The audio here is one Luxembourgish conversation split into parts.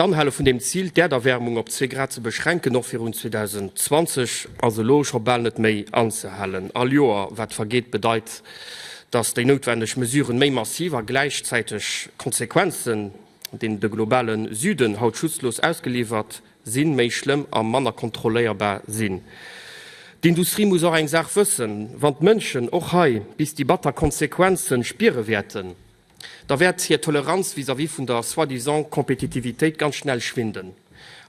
D'Anhale vun deem Zil, d'Äerderwäermung op zwee Grad ze beschränken, och virun 2020, ass elo scho bal net méi anzehalen. All Joer, wat vergeet, bedeit, datt déi noutwendeg Mesuren méi massiv a gläichzäiteg Konsequenzen, deenen de globale Süden haut schutzlos ausgeliwwert sinn, méi schlëmm a manner kontrolléierbar sinn. D'Industrie muss och eng Saach wëssen, Wann d'Mënschen och hei bis déi batter Konsequenze spiere wäerten, da wäert hir Toleranz vis-à-vis vun der soi-disant Kompetitivitéit ganz schnell schwinden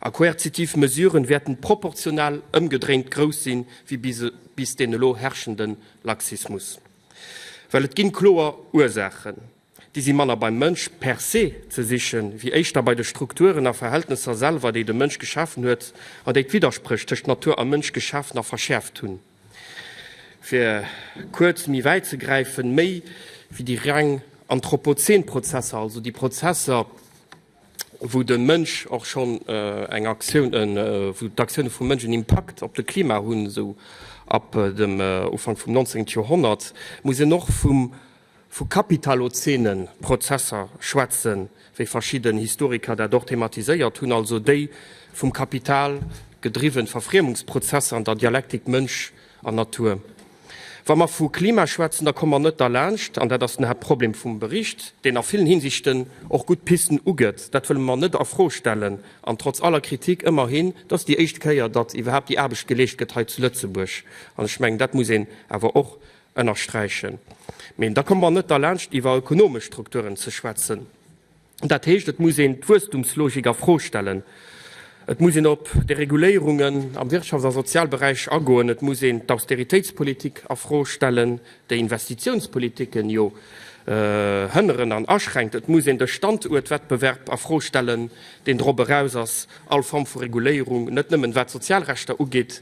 a koerzitiv Mesuren wäerten proportional ëmgedréint grouss sinn wéi bis deen elo herrschenden Laxismus. Well et ginn kloer Ursaachen. Déi si manner beim Mënsch per se ze sichen, wéi éischter bei de Strukturen a Verhältnesser selwer, déi de Mënsch geschafen huet an déi d'Widderspréch tëscht Natur a Mënsch geschaafen a verschäerft hunn. Fir kuerz méi wäit ze gräifen, méi wéi déi reng anthropozän Prozesser, also déi Prozesser, wou de Mënsch och schonn eng Aktioun, wou d'Aktioune vum Mënsch en Impakt op de Klima hunn, esou ab dem Ufank vum 19. Joerhonnert, muss een och vum vu kapitalozene Prozesser schwätzen, wéi verschidden Historiker dat och thematiséiert hunn, also déi vum Kapital gedriwwen Verfriemungsprozesser an der Dialektik Mënsch an Natur. Wa mer vu Klima schwätzen, da komme mer net derlaanscht, an dat ass den Haaptproblem vum Bericht, deen a villen Hinsichten och gutt Pisten ugëtt, dat wëlle mer net a Fro stellen, an trotz aller Kritik, ëmmerhin, et ass déi éischt Kéier, datt iwwerhaapt déi Aarbecht geleescht gëtt hei zu Lëtzebuerg, an ech mengen, dat muss een awer och ënnersträichen. Mee da komme mer net derlaanscht iwwer ökonomesch Strukturen ze schwätzen. Dat heescht, et muss een d'Wuesstumslogik a Fro stellen, et muss een op Dereguléierungen am Wirtschafts a Sozialberäich agoen, et muss een d'Austeritéitspolitik a Fro stellen, déi Investitiounspolitiken jo hënneren an aschränkt, et muss een de Standuertwettbewerb a Fro stellen, deen drop eraus ass, all Form vu Reguléierung, net nëmmen wat d'Sozialrechter ugeet,